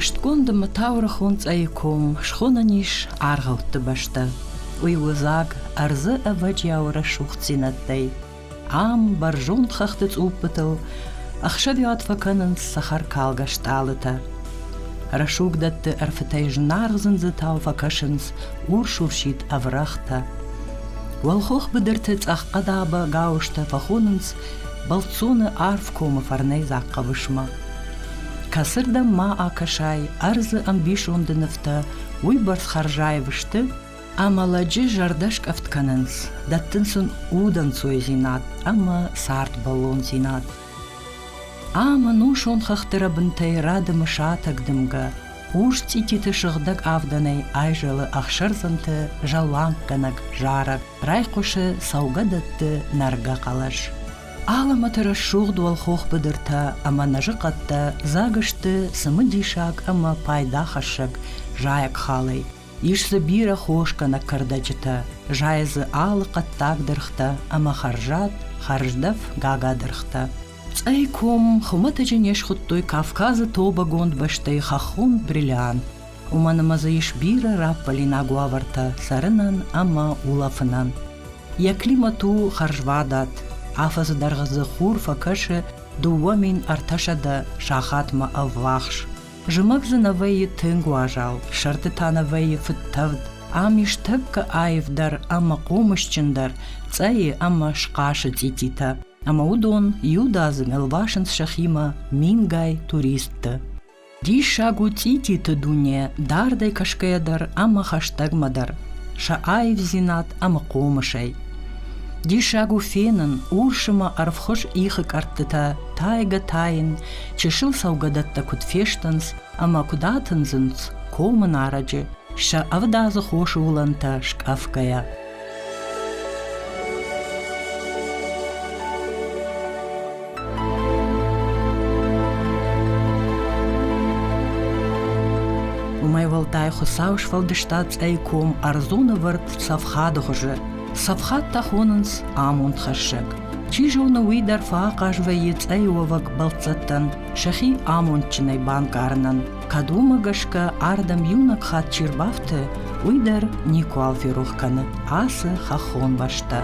Хъуыстгонды Мытаурыхон цъӕйы ком схонӕн ис аргъӕутты бӕстӕ. Уый у дзаг ӕрдзы ӕвӕджиау рӕсугъддзинӕдтӕй. Ам бӕрзонд хӕхты цъуппытыл ӕхсӕвиуат фӕкӕнынц цӕхӕркалгӕ стъалытӕ. Рӕсуг дӕтты ӕрфытӕй знаргъ зындзытау фӕкӕсынц урс-урсид ӕврӕгътӕ. Уӕлхох быдырты цъӕххъӕдабӕ гауызтӕ фӕхонынц бӕлццоны арф комы фӕрнӕй дзахъхъӕвысмӕ. Кӕцырдӕм ма акӕсай, ӕрдзы ӕмбисонды нывтӕ уыйбӕрц хӕрзаив сты, ӕмӕ лӕджы зӕрдӕ скъӕфт кӕнынц, дӕттын сын удӕнцойдзинад ӕмӕ цардбӕллондзинад. Ӕмӕ нусон хӕхты рӕбынтӕй рӕдымы сатӕг дымгӕ урс цъититы сыгъдӕг авдӕнӕй айзӕлы ӕхсӕрдзӕнты зӕлланггӕнӕг зарӕг, райхъуысы цӕугӕдӕтты нӕргӕ хъӕлӕс. Алӕмӕты рӕсугъд уӕлхох быдыртӕ ӕмӕ нӕзыхъӕдтӕ дзаг сты цымыдисаг ӕмӕ пайдахӕссӕг зайӕг халӕй. Ис дзы бирӕ хос кӕнӕ кӕрдӕджытӕ, зайы дзы алы хъӕддаг дыргътӕ ӕмӕ хӕрзад, хӕрздӕф гагадыргътӕ. Цъӕй ком хуымӕтӕджы не схуыдтой Кавказы тобӕгонд бӕстӕйы хӕххон бриллиант. Уымӕн ӕмӕ дзы ис бирӕ раппӕлинаг уавӕртӕ цӕрынӕн ӕмӕ улӕфынӕн. Йӕ климат у хӕрзвадат. Афӕдзы дӕргъы дзы хур фӕкӕсы дыууӕ мин ӕртӕсӕдӕ сахатмӕ ӕввахс. Зымӕг дзы нӕ вӕййы тынг уазал, сӕрты та нӕ вӕййы фыдтӕвд. Ам ис тӕккӕ аивдӕр ӕмӕ хъомысджындӕр цъӕйы ӕмӕ схъасы цъититӕ, ӕмӕ уыдон иудадзыг ӕлвасынц сӕхимӕ мингай туристты. Диссаг у цъититы дуне дардӕй кӕсгӕйӕ дӕр ӕмӕ хӕстӕгмӕ дӕр сӕ аивдзинад ӕмӕ хъомысӕй. Диссаг у фенын урс ӕмӕ ӕрвхуыз ихы кӕрдтытӕ тайгӕ-тайын, Чысыл цӕугӕдӕттӕ куыд фестынц ӕмӕ куыд атындзынц комы нарӕджы, сӕ ӕвдадзы хосы уылӕнтӕ скъӕфгӕйӕ. уымӕй уӕлдай Хуыцау сфӕлдыста цъӕй ком ӕрдзоны вӕрд цӕфхады хуызы. Цӕфхад та хонынц амонд хӕссӕг. Чи зоны, уый дӕр фӕахъаз вӕййы цъӕйы уӕвӕг бӕлццӕттӕн сӕхи амондджынӕй банкъарынӕн. Кӕд уымӕ гӕсгӕ ардӕм иунӕг хатт чи рбафты, уый дӕр никуал ферох кӕны ацы хӕххон бӕстӕ.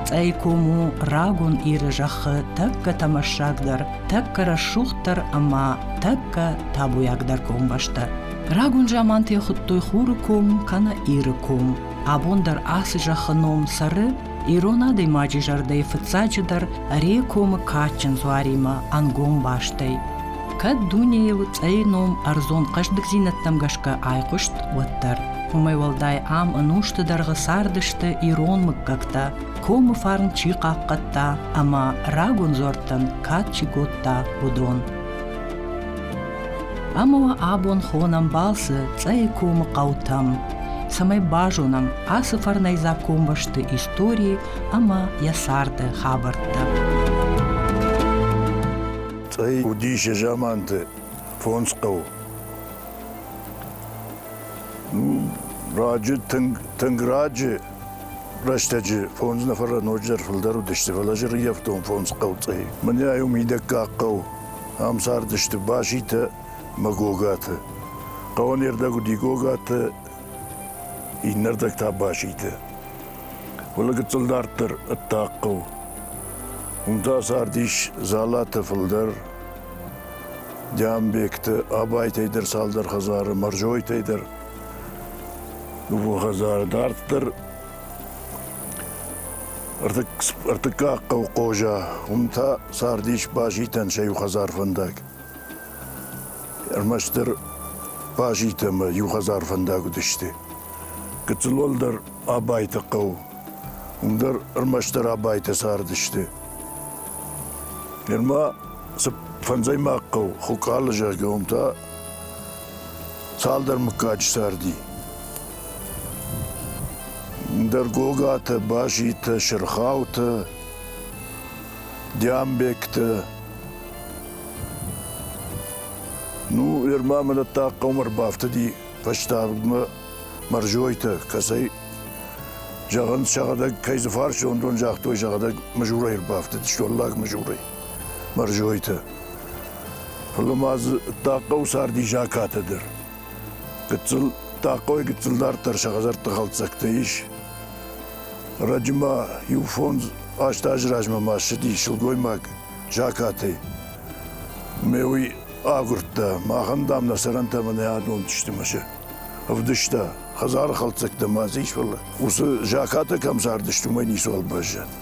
Цъӕй ком у рагон Иры зӕххы тӕккӕ тӕмӕссагдӕр, тӕккӕ рӕсугъддӕр ӕмӕ тӕккӕ табуйагдӕр комбӕстӕ. Рагон заманты хуыдтой хуры ком, кӕнӕ Иры ком. Абон дӕр ацы зӕххы ном цӕры ирон адӕймаджы зӕрдӕйы фыццаджыдӕр Рейы комы кадджын дзуаримӕ ӕнгом бастӕй. Кӕд дунейыл цъӕйы ном ӕрдзон хъӕздыгдзинӕдтӕм гӕсгӕ айхъуыст, уӕддӕр. Уымӕй уӕлдай ам ӕнусты дӕргъы цардысты ирон мыггӕгтӕ, комы фарн чи хъахъхъӕдта ӕмӕ рагон дзуӕрттӕн кад чи кодта, уыдон. Ӕмӕ уӕ абон хонӕм балцы Цъӕйы комы хъӕутӕм, цӕмӕй базонӕм ацы фӕрнӕйдзаг комбӕсты истории ӕмӕ йӕ царды хабӕрттӕ. Цъӕй уыдис заманты фондз хъӕу. Ну, раджы тынг, тынг раджы Рӕстӕджы фондз нӕфӕрӕ ноджыдӕр фылдӕр уыдысты, фӕлӕ зырйӕфтон фондз хъӕуцъӕй. Мынӕй уым идӕггаг хъӕу. Ам цардысты Баситӕ мӕ Гогаты. Хъӕуӕн ирдӕг уыди Гогаты, иннӕрдӕг та Баситы. Фӕлӕ гыццыл дарддӕр ӕддаг хъӕу. Уым та цардис Зӕлаты фылдӕр, Дианбекты, Абайтӕй дӕр цалдӕр хӕдзары, Мӕрзойтӕй дӕр. Дыууӕ хӕдзары дарддӕр ӕртыккаг хъӕу Хъоза, уым та цардис Базитӕн сӕ иу хӕдзар фӕндаг. Ӕрмӕстдӕр Базит ӕмӕ иу хӕдзар фӕндаг уыдысты. Гыццыл уӕлдӕр Абайты хъӕу, уым дӕр ӕрмӕстдӕр Абайтӕ цардысты. Нырма цы фӕндзӕймаг хъӕу Хуыкъалы, зӕгъгӕ, уым та Цалдӕр мыггаджы царди. Ндӕр Гогатӕ, Базитӕ, Сырхаутӕ, Диамбектӕ. Ну, Ерма мӕнӕттӕ хъӕум ӕрбафтыди фӕстагмӕ Мӕрзойтӕ, кӕцӕй зӕгъын, сӕгъӕдӕг кӕй дзы фарсондон загътой, сӕгъӕдӕг мызурӕй ӕрбафтыд, столлаг мызурӕй. Бӕрзойты. Фӕлӕ ма дзы Тахъхъӕуы царди закатӕ дӕр. Гыццыл Тахъхъойы гыццыл дарддӕр сӕ хӕдзӕртты хӕлддзӕгтӕ ис. Раджы ма иу фондз аст азы размӕ ма ссыди сылгоймаг закатӕй. Ме уый агуырдта, махӕн, дам, нӕ сӕрӕнтӕ мӕнӕ адонд сты мӕ сӕ ӕвдыста. Хӕдзары хӕлддзӕгтӕ ма дзы ис, фӕлӕ уыцы закатӕ кӕм цардысты, уымӕй ницуал баззад.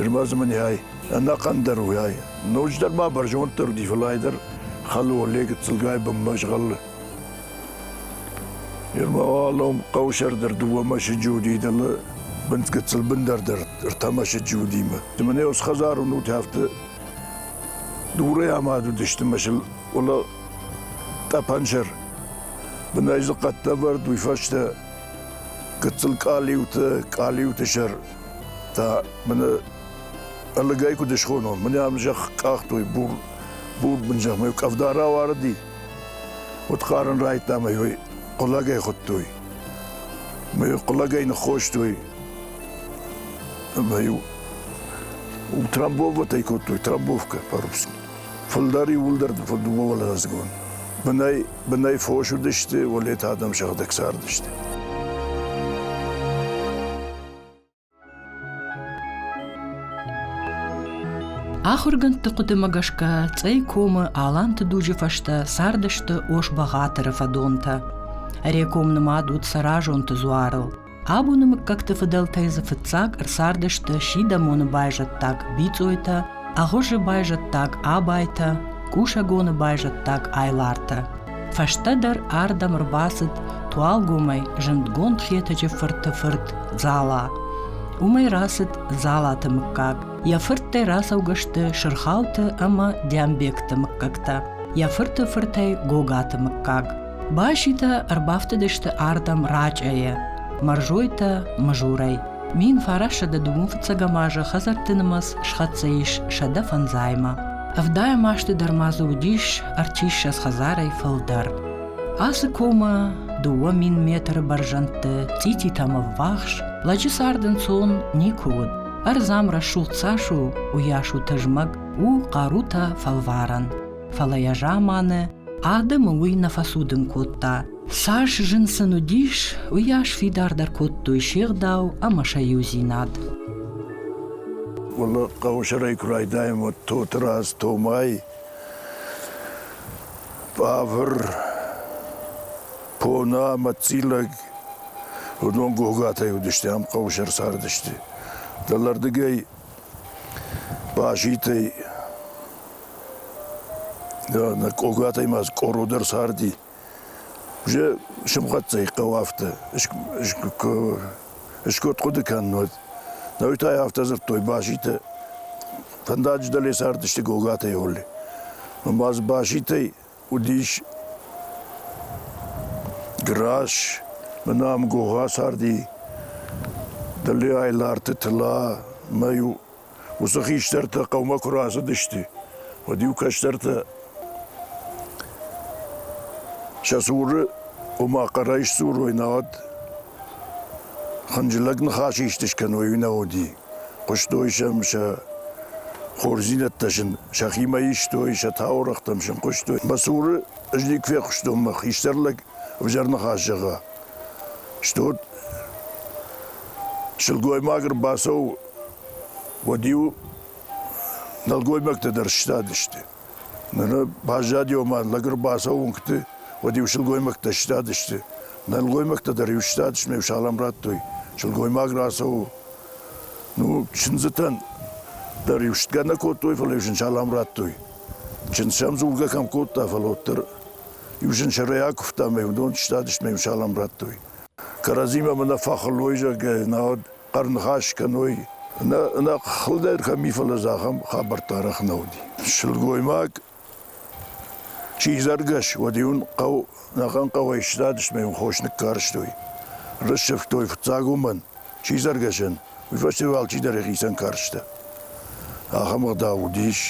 Ирбӕзы мын ӕй, ӕнӕхъӕн дӕр уӕй. Ноджыдӕр ма бӕрзонддӕр дивылӕй дӕр хӕлы оле гыццылгай бынмӕ згъӕлы. Ирмӕ алом хъӕусӕрдӕр дыууӕ мӕсыджы уыди дӕлы бындгыцыл бындӕрдӕр ӕртӕ мӕсыджы уыдимӕ. Ды мын ӕз хӕдзарон уыд афтӕ дурӕй амад уыдысты мӕсыл уӕлӕ тъӕпӕнсӕр. Бынӕй дзы хъӕдтӕ ӕвӕрд, уый фӕстӕ гыццыл къалиуты, къалиуты сӕр та мын ӕлыгӕй куыд схонон, мын ӕм зӕхх къахтой, бур, бур бын зӕхмӕ къӕвда рауарыди. Уыд хъарын райдта мӕ йой хъулагӕй хуыдтой. Мӕ йой хъулагӕй ныххостой. Мӕ иу трамбоватӕй кодтой, трамбовкӕ по-русски. Фылдӕр иууылдӕр дыууӕвӕлдадзгон. Бынӕй Бынӕй фос уыдысты, уылӕты адӕм сыгъдӕг цардысты. Ахуыргӕндты хъуыдымӕ гӕсгӕ Цъӕй комы Аланты дуджы фӕстӕ цардысты Ос-Бӕгъатыры фӕдонтӕ. Реком нымад уыд Саразонты дзуарыл. Абоны мыггӕгты фыдӕлтӕй дзы фыццаг ӕрцардысты Сидӕмоны байзӕддаг Бицъойтӕ, Агъуызы байзӕддаг Абайтӕ, Къусӕгоны байзӕддаг Айлартӕ. Фӕстӕдӕр ардӕм ӕрбацыд Туалгомӕй зындгонд Хетӕджы фырты фырт Дзала. Уымӕй рацыд Дзалаты мыггаг. Йӕ фырттӕй рацӕугӕ сты Сырхауты ӕмӕ Дӕмбегты мыггӕгтӕ. Йӕ фырты фыртӕй Гогаты мыггаг. Баситӕ ӕрбафтыдысты ардӕм рачъӕйӕ, Мӕрзойтӕ Мызурӕй. Мин фарӕссӕдӕ дыууын фыццӕгӕм азы хӕдзӕртты нымӕц схӕццӕ ис сӕдӕ фӕндзаймӕ. Ӕвдайӕм азты дӕр ма дзы уыдис ӕрчиссӕдз хӕдзарӕй фылдӕр. Ацы комы дыууӕ мин метры бӕрзӕндты цъититӕм ӕввахс лӕджы цард ӕнцон никуы уыд. Ӕрдзӕм рӕсугъд цас у, уыйас у тызмӕг, у хъарутӕ фӕлварӕн. Фӕлӕ йӕ заманы адӕмы уый нӕ фӕцудын кодта. Цас зын сын уыдис, уыйас фидардӕр кодтой се гъдау ӕмӕ сӕ иудзинад. Уалло хъӕусырӕй куы райдайӕм, уӕд Тотырадз Томай бавр, пона ӕмӕ цъилӕг уыдон гогатӕй уыдысты, ам хъӕусыр цардысты. Дӕлӕрдыгӕй базитӕй Нӕ къог адӕймаг къоро дӕр царди. Уже сымхӕццӕ и хъӕу афтӕ. Скот хъуыды кӕннод. Науи та йӕ афтӕ дзырдтой Баситӕ. Фӕндаджы дӕле цардысты Гогатӕй Олли. Ӕмӕ дзы Баситӕй уыдис Грас, мӕнӕ ам Гога царди. Дӕле Айларты Тыла, мӕ иу Уыцы хистӕртӕ хъӕумӕ куы рацыдысты, уӕд-иу кӕстӕртӕ сӕ цуры, ома хъӕрӕй сдзурой, науӕд хынджылӕг ныхас исты скӕной, уый нӕ уыди. Хъуыстой сӕм сӕ хорздзинӕдтӕ сын сӕхимӕ истой, сӕ таурӕгътӕм сын хъуыстой. Мӕ цуры ӕз никуы фехъуыстон, мӕ хистӕр лӕг ӕвзӕр ныхас зӕгъа. Стут сылгоймаг ӕрбацӕуы уӕд-иу нӕлгоймӕгтӕ дӕр сыстадысты. Ныр баззади, ома лӕг ӕрбацӕуынгты, уӕд-иу сылгоймӕгтӕ сыстадысты. Нӕлгоймӕгтӕ дӕр-иу сыстадысты, ме салам радтой. Сылгоймаг рацӕуы. Ну, чындзытӕн дӕр-иу стгӕ нӕ кодтой, фӕлӕ-иу сын салам радтой. Чындз сӕм дзургӕ кӕм кодта, фӕлӕ уӕддӕр иу сынсӕрӕй акуывта мӕ уыдон сыстадысты мӕ иу салам радтой. Кӕрӕдзимӕ мӕ нӕ фӕхуылой, зӕгъгӕ, науӕд хъӕрныхас кӕной. Нӕ, нӕ хылдӕр кӕм и, фӕлӕ дзы ахӕм хабӕрттӕ арӕх нӕ уыди. Сылгоймаг чи зӕргӕс, уӕд-иу ын хъӕу, нӕхъӕн хъӕуӕй сзадысмӕ йын хос ныккарстой. Рыссывтой фыццаг уымӕн, чи зӕргӕсӕн, уый фӕстӕ йыл алчидӕр йӕхицӕн карста. Ахӕм ӕгъдау уыдис.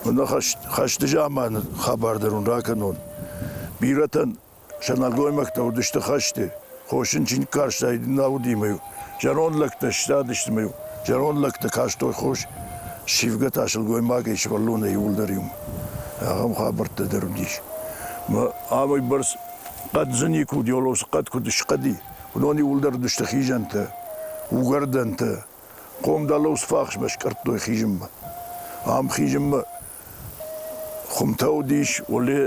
Уын хӕсты заманы хабар дӕр уын ракӕнон. Бирӕтӕн Сӕ нӕлгоймӕгтӕ уыдысты хӕсты, хосын чиныг карстаид нӕ удимӕ-иу. Зӕронд лӕгтӕ сзадысты ӕмӕ-иу зӕронд лӕгтӕ кастой хос сивгӕ та сылгоймагӕй сывӕллонӕй иуылдӕр иу ахӕм хабӕрттӕ дӕр уыдис. Амӕй бӕрц хъӕддзы никуы уыд, Йолосы хъӕд куыд схъӕди, уыдон иуылдӕр уыдысты хизӕнтӕ, угӕрдӕнтӕ, Хъомдӕлыл сфахсмӕ скъӕрдтой хизынмӕ. Ам хизынмӕ хуымтӕ уыдис, уӕле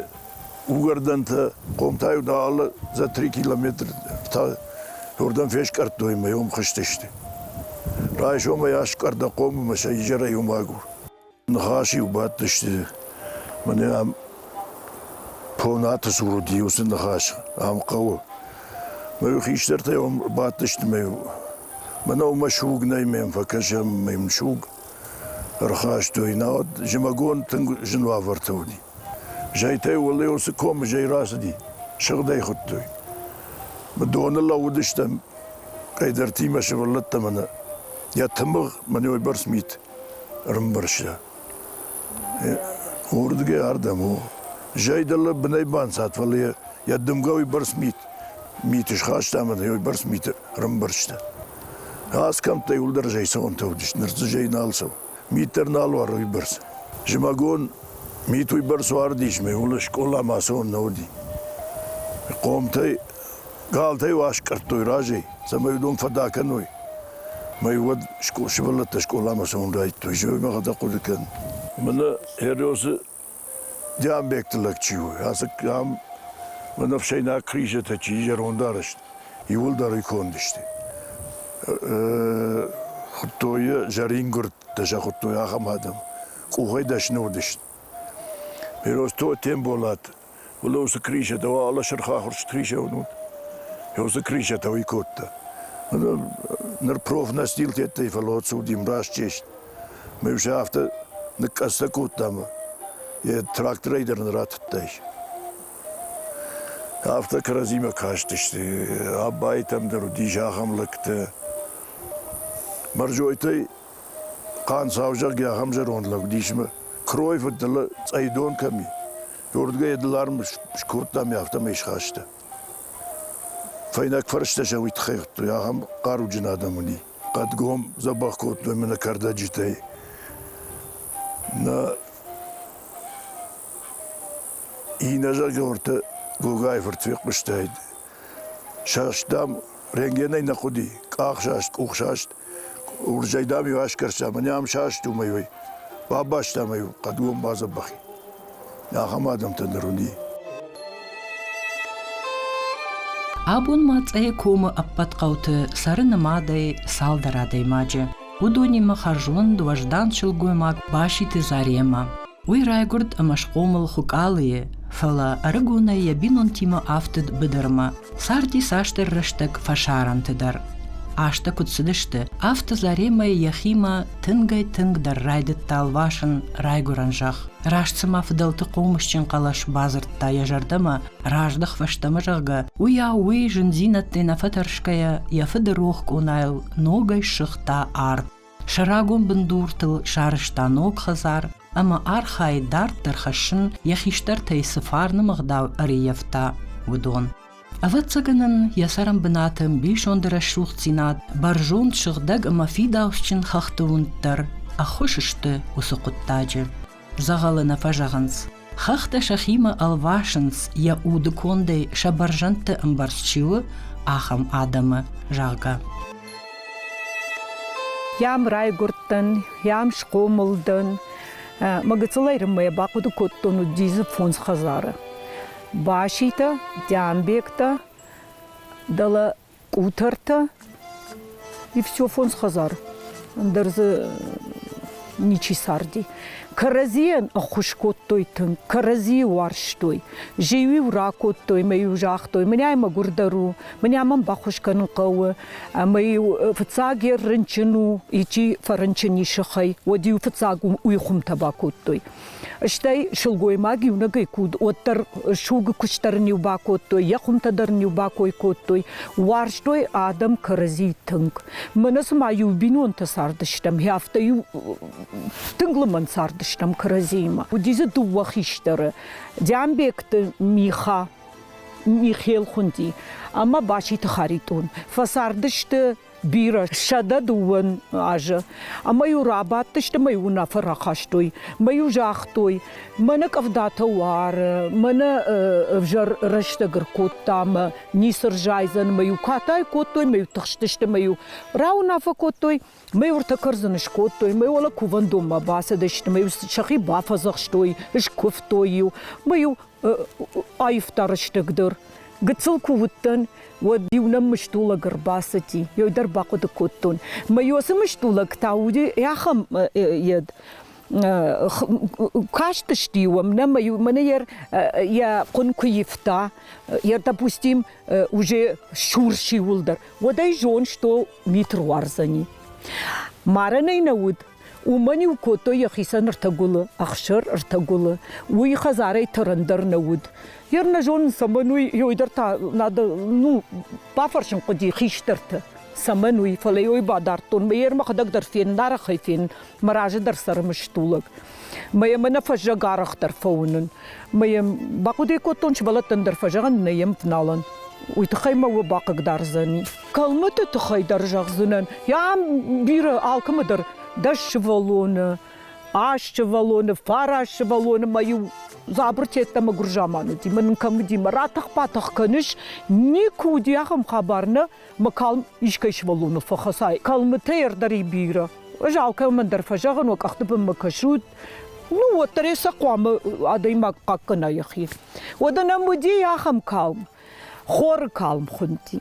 угӕрдӕнтӕ, хъом та-иу алы за три километры та уырдӕм фескъӕрдтой ӕмӕ йӕм хызтысты. Райсомӕй аскъӕрдта хъомы ӕмӕ сӕ изӕрӕй уым агур. Ныхас-иу бадтысты, мӕнӕ ам Понаты цур уыди уыцы ныхас, ам хъӕуы. Мӕ хистӕртӕ йӕм бадтысты мӕ мӕнӕ уымӕ суг нӕй, мӕм фӕкӕсӕм, мӕм суг ӕрхастой. Науӕд зымӕгон тынг зын уавӕртӕ уыди. Зӕйтӕ уӕле уыцы комы зӕй рацыди, сыгъдӕй хуыдтой. Мы доны лӕууыдыстӕм, кӕйдӕртимӕ сывӕллӕттӕ мӕнӕ йӕ тымыгъ мӕнӕ уыйбӕрц мит. Ӕрӕмбӕрста, уырдыгӕй ардӕм у. Зӕй дӕлӕ бынӕй банцад, фӕлӕ йӕ йӕ дымгӕ уыйбӕрц мит миты схаста ӕмӕ йӕ уыйбӕрц миты ӕрӕмбӕрзта. Асхӕмттӕй уӕлдӕр зӕй цӕуӕнтӕ уыдысты, ныр дзы зӕй нал цӕуы. Мит дӕр нал уары уыйбӕрц. Зымӕгон мит уыйбӕрц уардис, ме улы скъоламӕ ацӕуӕн нӕ уыди. Хъомтӕй Галтӕ-иу аскъӕрдтой разӕй, цӕмӕй уыдон фӕдӕ кӕной. Мӕ-иу уӕд ско- сывӕллӕттӕ скъоламӕ цӕуын райдыдтой, зӕгъгӕ хъӕдӕг хъуыды кӕн. Мӕнӕ Хериосы Диамбекты лӕг чи у, ацы ам мӕнӕ ӕфсӕйнаг кризӕтӕ чи зӕронд арӕзт, иууылдӕр ӕй кондысты. Хуыдтой йӕ зӕрингуырдтӕ сӕ хуыдтой ахӕм адӕм. Къухӕй дӕсны уыдысты. Хериос Тотемболат Лосы Кришетӕ уа алы сырх ахуырст Кришеуын уыд. Йосы Кришетӕ уый кодта. Ныр профнастил тедтӕй, фӕлӕ отцудим раст чест. Мы уже афтӕ ныккъӕдзтӕ кодтам, йӕ тракторӕй дӕр нын ратыдтайс. Афтӕ кӕрӕдзимӕ кастысты. Абайтӕм дӕр уыдис ахӕм лӕгтӕ. Мӕрзойтӕй хъан сау зӕгъгӕ ахӕм зӕронд лӕг уыдис, ӕмӕ крой фыд нылы цъӕйдон кӕм и. Рдыгӕй йӕ дӕларм скодта ӕмӕ афтӕмӕй схаста. Фӕйнӕг фӕрстӕ сӕ уый тыххӕй хуыдтой, ахӕм хъаруджын адӕм уыди. Хъӕдгом дзӕбӕх кодтой мӕ нӕ кӕрдӕджытӕй. Нӕ иннӕ зӕргӕ уырты Гогайы фырт фехъуыстаид, Сӕст, дам, рентгенӕй нӕ хъуыди, къахсаст, къухсаст, уырзӕй, дам-иу аскӕрстам, ӕниу ам саст уымӕй, ой, бабастам ӕй хъӕдгом бадзӕбӕхи. Ахӕм адӕмтӕ ныр уыди. Абон ма Цъӕйы комы ӕппӕт хъӕуты цӕры нымадӕй цалдӕр адӕймаджы. Уыдонимӕ хӕрзонд, уӕздан сылгоймаг Баситы Заремӕ. Уый райгуырд ӕмӕ схъомыл Хуыкъалыйы, фӕлӕ ӕрыгонӕй йӕ бинонтимӕ афтыд быдырмӕ. Царди цасдӕр рӕстӕг фӕсарӕнты дӕр. Азтӕ куыд цыдысты, афтӕ Заремӕ йӕхимӕ тынгӕй-тынгдӕр райдыдта лвасын райгуырӕн зӕхх. Раст цыма фыдӕлты хъомысджын хъӕлӕс бадзырдта йӕ зӕрдӕмӕ, раздӕх фӕстӕмӕ, зӕгъгӕ, уыйау уый зындзинӕдтӕй нӕ фӕтӕрсгӕйӕ йӕ фыды рох къонайыл ногӕй ссыгъта ард. Сӕ рагон бындуртыл сарӕзта ног хӕдзар ӕмӕ архайы дарддӕр хӕссын, йӕ хистӕртӕй цы фарны мыгъдау ӕрыййӕфта, уыдон. Ӕвӕццӕгӕн ын йӕ цӕрӕнбынаты ӕмбисонды рӕсугъддзинад, бӕрзонд сыгъдӕг ӕмӕ фидауцджын хӕхты уынд дӕр ӕххуыс сты уыцы хъуыддаджы. Дзӕгъӕлы нӕ фӕзӕгъынц. Хӕхтӕ сӕхимӕ ӕлвасынц, йӕ уды кондӕй сӕ бӕрзӕндты ӕмбӕрц чи у, ахӕм адӕмы, зӕгъгӕ. Йӕм райгуырдтӕн, йӕм схъомыл дӕн. Мӕ гыццыл ӕрынмӕ йӕ бахъуыды кодтон уыдис фондз хӕдзары. Баситӕ, Дӕнбегтӕ, дӕлӕ Къутӕртӕ и все фондз хӕдзар. Ӕндӕр дзы ничи царди. Кӕрӕдзийӕн ӕххуыс кодтой тынг, кӕрӕдзийы уарзтой. Жиу-иу ракодтой мӕ-иу загътой, мынӕй мӕгуырдӕр у, мынӕ мӕм баххуыс кӕнын хъӕуы. Ӕмӕ-иу фыццагӕр рынчын у, ичи фӕрынчын и сыхӕй, уӕд-иу фыццаг уый хуымтӕ бакодтой. Стӕй сылгоймаг иунӕгӕй куд, уӕддӕр суг куыст дӕр ын-иу бакодтой, йӕ хуымтӕ дӕр ын-иу бакой кодтой. Уарзтой адӕм кӕрӕдзи тынг. Мӕнӕ цыма-иу бинонтӕ цардыстӕм, афтӕ-иу тынг лымӕн цардыстӕм кӕрӕдзиимӕ. Уыди дзы дыууӕ хистӕры, Дианбекты Миха. Михел хуынди, ӕмӕ Баситы Харитон. Фӕцардысты бирӕ сӕдӕ дыууӕн азы. Ӕмӕ-иу рабадтысты мӕ-иу уынаффӕ рахастой, мӕ-иу загътой, мӕнӕ къӕвдатӕ уары, мӕнӕ ӕвзӕр рӕстӕг ӕркодта мӕ ницы рзайдзӕн, мӕ-иу катай кодтой, мӕ-иу тыхстысты, мӕ-иу рауынаффӕ кодтой, мӕ-иу ӕртӕ кӕрдзын скодтой, мӕ-иу уӕлӕ кувӕндонмӕ бацыдысты, мӕ-иу сӕхи бафӕдзӕхстой, скуывтой-иу, мӕ-иу аивдӕр стӕгдӕр. Гыццыл куы уыдтӕн, уӕд иу нӕм мыстулӕг ӕрбацыди. Йой дӕр бахъуыды кодтон. Мӕ йо цы мыстулӕг та уыди, ахӕм йед кастысты уӕм нӕ мӕнӕ йӕ хъуын куы ивта йӕ допустим уже шурши уылдӕр уӕд ӕй зон что митр уарзӕни марӕнӕй нӕ уыд Уымӕн-иу кодтой йӕхицӕн ртӕгуылы, ӕхсыр, ртӕгуылы. Уый хӕдзарӕй тӕрӕн дӕр нӕ уыд. Йе рнӕ зонын, цӕмӕн уый, йой дӕр та надо, ну, бафӕрсын хъуыди хистӕрты. Цӕмӕн уый, фӕлӕ йой бадардтон, мӕ йе рмӕхӕдӕг дӕр фенын, арӕхӕй фенын, мӕ разы дӕр цӕры мыстулӕг. Мӕ йӕм ӕнӕ фӕззӕг арӕхдӕр фӕуынын. Мӕ йӕм бахъуыдыйӕ кодтон, сывӕллӕттӕн дӕр фӕзӕгъын, нӕ йӕм фыналӕн. Уый тыххӕй мӕ уӕ бахъыгдардзӕни. Калмыты тыххӕй дӕр зӕгъдзынӕн. Йӕ бирӕ алкӕмӕ дӕр дӕс сывӕллоны, аст сывӕллоны, фараст сывӕллоны мӕ-иу дзабыртӕ йеддӕмӕ гуырзаман уыди. Мӕ нын кӕм уыди, мӕ ратӕх-батӕх кӕныс, никуы уыди ахӕм хабар, нӕ мӕ калм искӕй сывӕллоны фӕхӕцай. Калмытӕй ӕрдӕр и бирӕ. Ӕз алкӕмӕн дӕр фӕзӕгъын, уӕ къӕхты бынмӕ кӕсут, ну, уӕддӕр йӕ сӕ хъуамӕ адӕймаг хъахъхъӕна йӕхи. Уӕдӕ нӕм уыди ахӕм калм. Хоры калм хуынди.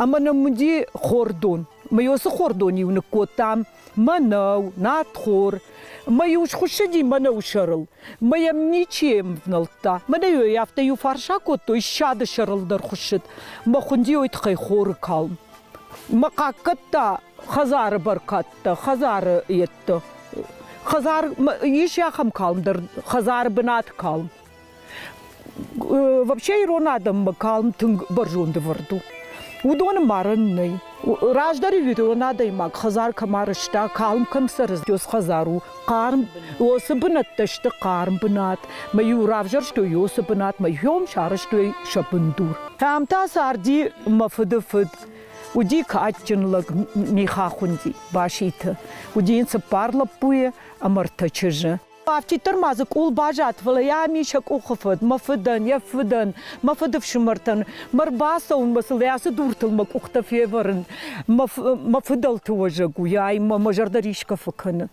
Ӕмӕ нӕм уыди хордон. Мы уыцы хордон-иу ныккодтам мӕнӕу, надхор. Мӕ-иу схуыссыди мӕнӕу сӕрыл. Мӕ йӕм ничи ӕвнӕлдта. Мӕнӕ йӕ афтӕ иу фарс акодтой, ссады сӕрыл дӕр хуыссыд. Мӕ хуындийы тыххӕй хоры калм. Мӕ хъаккӕдта хӕдзары бӕркӕдтӕ, хӕдзары йедты. Хӕдзар ис ахӕм калм дӕр, хӕдзары бынаты калм. Вообще ирон адӕммӕ калм тынг бӕрзонд ӕвӕрд у. Уыдоны марын нӕй. Раздӕр ирон адӕймаг хӕдзар кӕм арӕзта, калм кӕм цӕрыд, уыцы хӕдзар у хъарм. Уыцы бынӕттӕ сты хъарм бынат. Мӕ-иу равзӕрстой уыцы бынат, мӕ-иу сарӕзтой сӕ бындур. Ам та царди мӕ фыды фыд. Уыди кадджын лӕг Михахунди, Баситы. Уыди йын цыппар лӕппуйы ӕмӕ ртӕ чызджы. Афтиддӕр ма дзы къул баззад, фӕлӕ йӕ ам ис йӕ къухы фыд, мӕ фыдӕн, йӕ фыдӕн, мӕ фыдыфсымӕртӕн. Мӕ рбацӕуынмӕ сыл ацы дуртыл мӕ къухтӕ февӕрын. Мӕ фыдӕлты уӕзӕг у, ай мӕ мӕ зӕрдӕ рисгӕ фӕкӕны.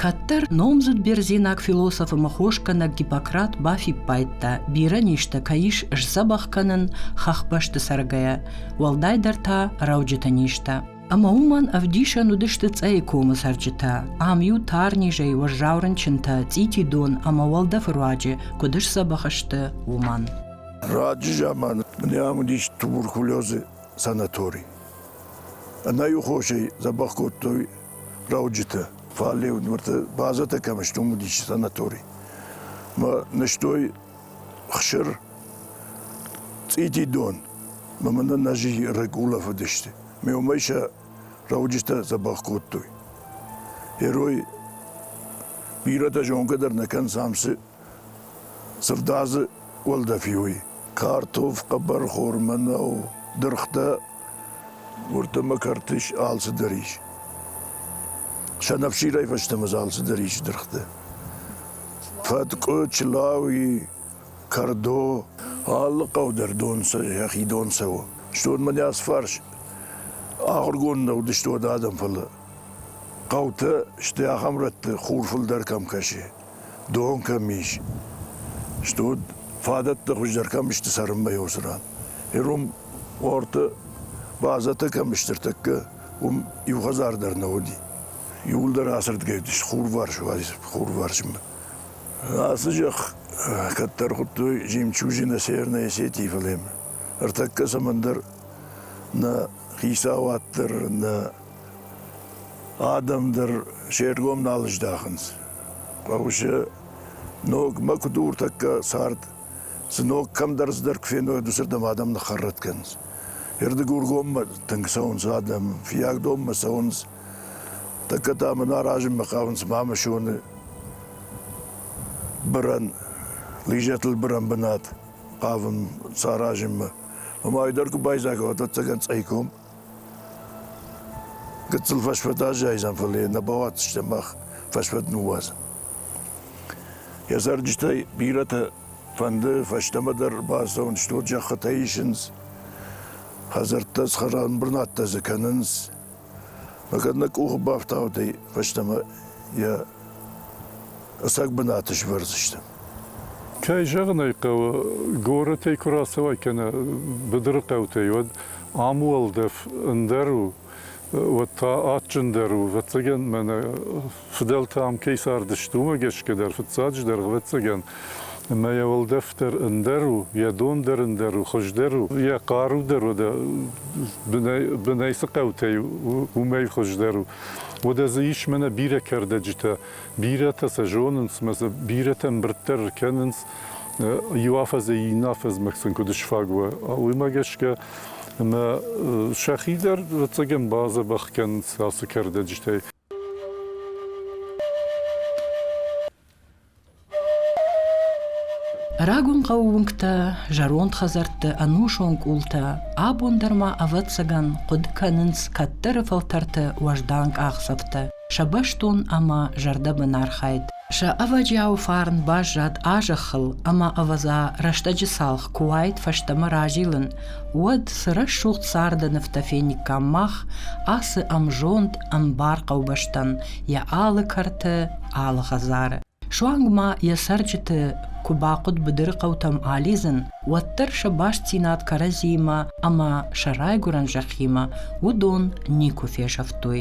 Кӕддӕр номдзуд бердзенаг философ ӕмӕ хосгӕнӕг Гиппократ бафиппайдта, бирӕ низтӕ кӕй ис сдзӕбӕх кӕнын хӕхбӕсты цӕргӕйӕ, уӕлдайдӕр та рӕуджыты низтӕ. Ӕмӕ уымӕн ӕвдисӕн уыдысты Цъӕйы комы цӕрджытӕ. Ам-иу тар низӕй уӕззау рынчынтӕ, цъити дон ӕмӕ уӕлдӕфы руаджы куыд сдзӕбӕх сты, уымӕн. Раджы заманы ам уыдис туберкулезы санатори. Ӕнӕйу хосӕй дзӕбӕх кодтой рауджытӕ. Фӕлӕ уыдмӕрты базӕтӕ кӕм сты, уым уыдис санатори. Мӕ нызтой хсыр, цъити дон, мӕ мӕ нӕзы рыг улӕфыдысты. Ме уымӕй сӕ рауджытӕ дзӕбӕх кодтой. Heroi бирӕтӕ зонгӕ дӕр нӕ кӕнынц ам цы Сырдадзы уӕлдӕфи уый картоф, хъӕбӕрхормӕ нӕу, дыргътӕ, уырдӕмӕ кӕртис, алцыдӕр ис. Сӕнӕфсирӕй фӕстӕмӕ дзы алцыдӕр ис дыргъты. Фӕткъуы, чылауи, кӕрдо, алы хъӕу дӕр дон йӕхи дон цӕуы. Стон мӕ не фарс ахуыргонд нӕ уыдысты уӕд адӕм, фӕлӕ хъӕутӕ сты ахӕм рӕтты, хур фылдӕр кӕм кӕсы. дон кӕм ис, стут, фадӕттӕ хуыздӕр кӕм сты цӕрынмӕ иуцы ран, ирон уорты базӕтӕ кӕм сты ӕртӕккӕ, уым иу хӕдзар дӕр нӕ уыди. Иуылдӕр ацырдгӕй уыдис хурварс, хурварсмӕ. Ацы зӕхх кӕддӕр хуыдтой жемчужи на Северной Осетии фӕлемы. Ӕртӕккӕ цӕмӕндӕр нӕ хицауад дӕр, нӕ адӕм дӕр се ргом нал здахынц. Хъӕуысы ногмӕ куыд у ныртӕккӕ цард, цы ног кӕмдӕр цыдӕр куы феной, уыдысырдӕм адӕм ныххӕррӕтт кӕнынц. Ердыгургоммӕ тынг цӕуынц адӕм, Фиагдонмӕ цӕуынц. Тӕккӕ та мын аразынмӕ хъавынц Мамысоны бырӕн, Лизӕтыл бырӕн бынат хъавын саразынмӕ. Омӕ ой дӕр куы байдзаха, уӕд ӕцӕгӕн цӕйком. Гыццыл фӕсфӕд аззайдзӕн, фӕлӕ йӕ нӕ бауадздзыстӕм мах фӕсфӕд ныууадзын. Йӕ цӕрджытӕй бирӕтӕ фӕнды фӕстӕмӕ дӕр бацӕуын, стут зӕххытӕ исынц, хӕдзӕрттӕ схӕрӕмбырнадтӕ дзы кӕнынц. Мӕ кӕд нӕ къухы бафтаудӕй, фӕстӕмӕ йӕ ӕцӕг бынаты свӕрдзыстӕм. Кӕй зӕгъын ӕй хъӕуы, горӕтӕй куы рацӕуай кӕнӕ быдыры хъӕутӕй, уӕд ам уӕлдӕф ӕндӕр у, уӕд та адджындӕр у. Ӕвӕццӕгӕн, мӕнӕ фыдӕлтӕ ам кӕй цардысты, уымӕ гӕсгӕ дӕр, фыццаджы дӕр, ӕвӕццӕгӕн, ӕмӕ йӕ уӕлдӕф дӕр ӕндӕр у, йӕ дон дӕр ӕндӕр у, хуыздӕр у, йӕ хъару дӕр уӕдӕ бынӕй цы хъӕутӕй у, уымӕй хуыздӕр у. Уӕдӕ дзы ис мӕнӕ бирӕ кӕрдӕджытӕ, Бирӕтӕ сӕ зонынц, ӕмӕ сӕ бирӕтӕ ӕмбырддӕр ӕркӕнынц иу афӕдзӕй иннӕ афӕдзмӕ сын куыд сфаг уа, уымӕ гӕсгӕ. Ӕмӕ сӕхи дӕр ӕвӕццӕгӕн бадзӕбӕх кӕнынц ацы кӕрдӕджытӕй. Рагон хъӕуы уынгтӕ, зӕронд хӕдзӕртты ӕнусон къултӕ абон дӕр ма, ӕвӕццӕгӕн, хъуыды кӕнынц кӕддӕры фӕлтӕрты уӕздан къахдзӕфтӕ. Сӕ бӕстон ӕмӕ зӕрдӕбын архайд, сӕ ӕвӕджиауы фарн баззад а-зӕххыл ӕмӕ, ӕвӕдза, рӕстӕджы цалх куы уаид фӕстӕмӕ разилын, уӕд цы рӕсугъд царды нывтӕ фениккам мах ацы ӕмзонд, ӕмбар хъӕубӕстӕн йӕ алы кӕрты, алы хӕдзары. Суанг ма йӕ цӕрджыты куы бахъуыд быдыры хъӕутӕм алидзын, уӕддӕр сӕ бастдзинад кӕрӕдзиимӕ ӕмӕ сӕ райгуырӕн зӕххимӕ уыдон никуы фесӕфтой.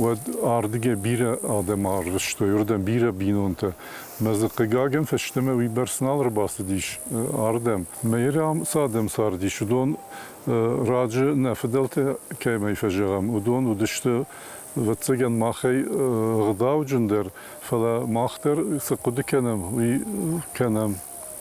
уӕд ардыгӕй бирӕ адӕм арвыстой уырдӕм бирӕ бинонтӕ. Мӕ дзы хъыгагӕн фӕстӕмӕ уыйбӕрц нал ӕрбацыдис ардӕм. Мӕйрам цы адӕм цардис, уыдон раджы нӕ фыдӕлтӕ кӕмӕй фӕзӕгъӕм, уыдон уыдысты, ӕвӕццӕгӕн, махӕй ӕгъдауджындӕр, фӕлӕ мах дӕр цы хъуыды кӕнӕм, уый кӕнӕм.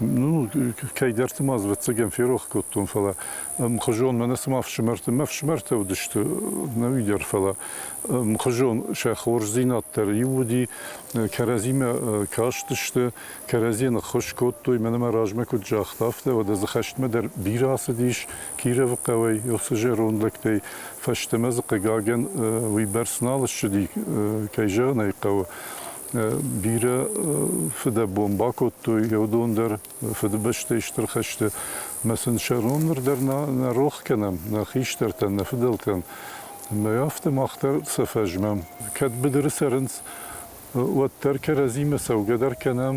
Ну, кӕйдӕрты ма ӕвӕццӕгӕн ферох кодтон, фӕлӕ мхуызон мӕнӕ цыма фсымӕртӕ, мӕ фсымӕртӕ уыдысты нӕуи дӕр, фӕлӕ мхуызон сӕ хорздзинад дӕр иу уыди, кӕрӕдзимӕ кастысты, кӕрӕдзийӕ ныххуыз кодтой, мӕнӕ мӕ размӕ куыд загъта, афтӕ, уӕдӕ дзы хӕстмӕ дӕр бирӕ ацыдис Кировы хъӕуӕй уыцы зӕронд лӕгтӕй, фӕстӕмӕ дзы, хъыгагӕн, уыйбӕрц нал ссыди, кӕй зӕгъын ӕй хъӕуы, Бирӕ фыдӕбон бакодтой, еу дон дӕр Фыдыбӕстӕйы Стыр хӕсты ӕмӕ сын сӕ рон ныр дӕр нӕ рох кӕнӕм, нӕ хистӕртӕн, нӕ фыдӕлтӕн. Ӕмӕ афтӕ мах дӕр сӕ фӕзмӕм. Кӕд быдыры цӕрынц, уӕддӕр кӕрӕдзимӕ цӕугӕ дӕр кӕнӕм,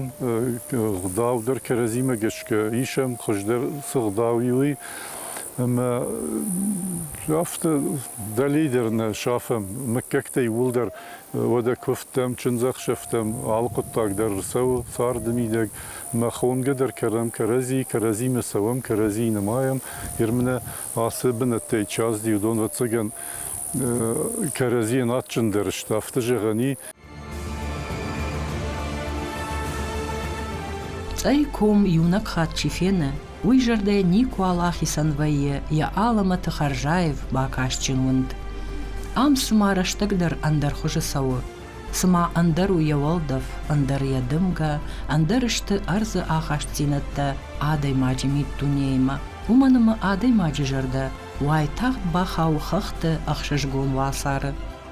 гъдау дӕр кӕрӕдзимӕ гӕсгӕ исӕм, хуыздӕр цы гъдау и, уый. Ӕмӕ афтӕ дӕлей дӕр нӕ сафӕм, мыггӕгтӕ иууылдӕр Уӕдӕ куывдтӕм, чындзӕхсӕвтӕм алы хъуыддаг дӕр рцӕуы, царды мидӕг. Мах уынгӕ дӕр кӕрӕм кӕрӕдзи, кӕрӕдзимӕ цӕуӕм, кӕрӕдзийы нымайӕм. Ермынӕ ацы бынӕттӕй час-диу дон ӕвӕццӕгӕн кӕрӕдзийӕн адджындӕр сты, афтӕ зӕгъӕн и. Цъӕй ком иунӕг хатт чи фены, Уый зӕрдӕ никуал ахицӕн вӕййы йӕ алӕмӕты хӕрзаив, бакастджын уынд. Ам цыма рӕстӕгдӕр ӕндӕр хуызы цӕуы, цыма ӕндӕр у йӕ уӕлдӕф, ӕндӕр йӕ дымгӕ, ӕндӕр сты ӕрдзы ахастдзинӕдтӕ адӕймаджы миддунеимӕ. Уымӕн ӕмӕ адӕймаджы зӕрдӕ уайтагъд бахауы хӕхты ӕхсызгон уацары.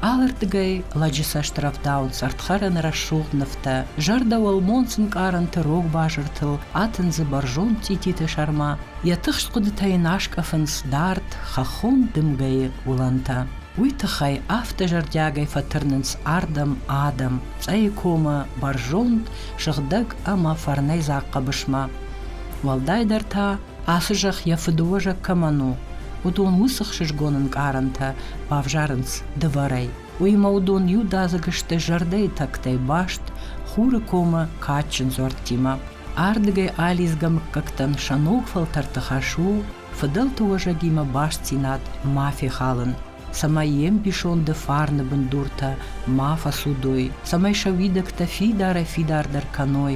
Алырдыгӕй лӕджы цӕстырӕвдауынц ӕрдхӕрӕны рӕсугъд нывтӕ, зӕрдӕ уӕлмонц ӕнкъарӕнты рог базыртыл атындзы бӕрзонд цъититы сӕрмӕ, йӕ тыхст хъуыдытӕ йын аскъӕфынц дард, хӕххон дымгӕйы уылӕнтӕ. Уый тыххӕй афтӕ зӕрдиагӕй фӕтырнынц ардӕм адӕм Цъӕйы комы бӕрзонд, сыгъдӕг ӕмӕ фӕрнӕйдзаг хъӕбысмӕ. Уӕлдайдӕр та Ацы зӕхх йӕ фыдыуӕзӕг кӕмӕн у, уыдон уыцы хсызгон ӕнкъарӕнтӕ бавзарынц дывӕрӕй. Уыимӕ уыдон иудадзыг сты зӕрдӕйы тӕгтӕй баст, хуры комы кадджын дзуӕрттимӕ. Ардыгӕй алидзгӕ мыггӕгтӕн сӕ ног фӕлтӕрты хӕс у фыдӕлты уӕзӕгимӕ бастдзинад ма фехалын, цӕмӕй йе мбисонды фарны бындуртӕ ма фӕцудой, цӕмӕй сӕ уидӕгтӕ фидарӕй-фидардӕр кӕной,